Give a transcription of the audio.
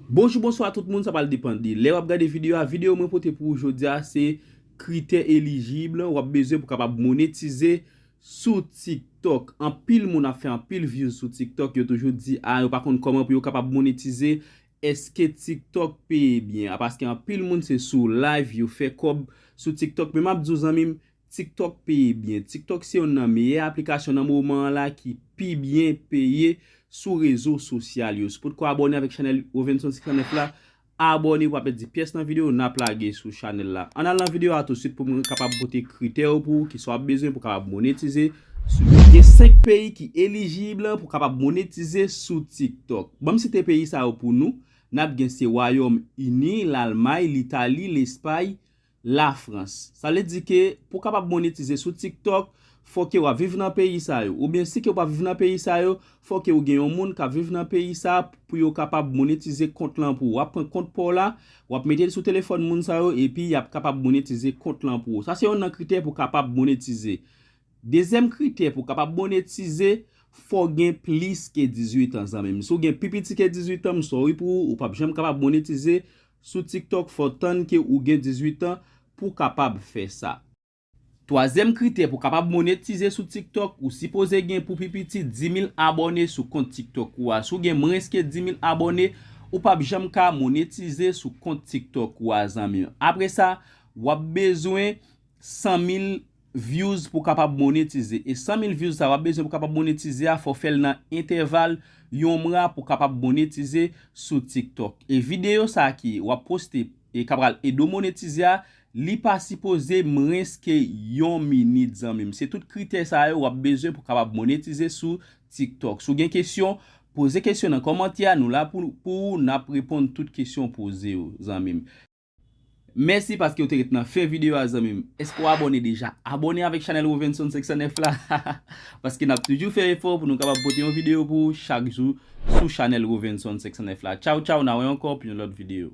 Bonjou bonswa tout moun sa pral depan de lè wap gade video a video mwen pote pou ou jodia se kritè elijib wap bezwen pou kapab monetize sou tik tok anpil moun ap fè anpil vyouz sou tik tok yo toujou di a yo pa konn koman pou yo kapab monetize eske tik tok peye byen a paske anpil moun se sou live yo fè kob sou tik tok men map di ou zanmim TikTok peye byen. TikTok se yonn nan meyè aplikasyon nan moman an la ki pi byen peye sou rezo sosyal yo. Si w potko abòne avèk chanèl Rovenson 509 la, abòne pou pa pèdi pyès nan videyo n ap lage sou chanèl la. Ann al nan videyo a tousuit pou m kapab pote kritè yo pou ou, kisa w ap bezwen pou w kapab monetize sou TikTok. Gen 5 peyi ki elijib pou w kapab monetize sou TikTok. Ban m site peyi sa yo pou nou, n ap gen se Wayòm Ini, Lalmay, Litali, Lespay, Lafrans. Sa vle di ke pou w kapab monetize sou TikTok, fò ke w ap viv nan peyi sa yo. Oubyen si ke w pa viv nan peyi sa yo, fò ke w gen yon moun k ap viv nan peyi sa a pou yo kapab monetize kont lan pou ou. W ap pran kont pa w la, w ap mete l sou telefòn moun sa yo epi y ap kapab monetize kont lan pou ou. Sa se yon nan kritè pou w kapab monetize. Dezyèm kritè pou w kapab monetize, fò w gen plis ke 18 an zanmi m. Si w gen pi piti ke 18 an, m sòri pou ou, ou p ap janm kapab monetize Sou tiktok fòw tann ke ou gen 18 ans pou kapab fè sa. Twazyèm kritè pou kapab monetize sou tiktok ou sipoze gen pou pi piti 10000 abòne sou kont tiktok ou a si w gen mwens ke 10000 abòne ou pap janm ka monetize sou kont tiktok ou a zanmim apre sa wap bezwen 100000 views pou kapab monetize e 100 mil views sa wap bezwen pou kapab monetize a fò fèl nan entèval yon mwa pou kapab monetize sou tiktok e video sa ki wap poste e kap pral ede w monetize a li pa sipoze mrens ke yon minit zanmim se tout kritè sa yo wap bezwen pou kapab monetize sou tiktok si w gen kesyon poze kesyon nan kòmantè a nou la pou ou nap reponn tout kesyon w poze yo zanmim. Mèsi paske ou te ret nan fen video a zanmim Eske ou abòne deja? Abòne avèk chanèl Rovenson 509 la Paske nap toujou fè efò pou nou kapab pote yon video pou ou chak jou sou chanèl Rovenson 509 la Tchaw tchaw na wè ankò pou yon lòt video.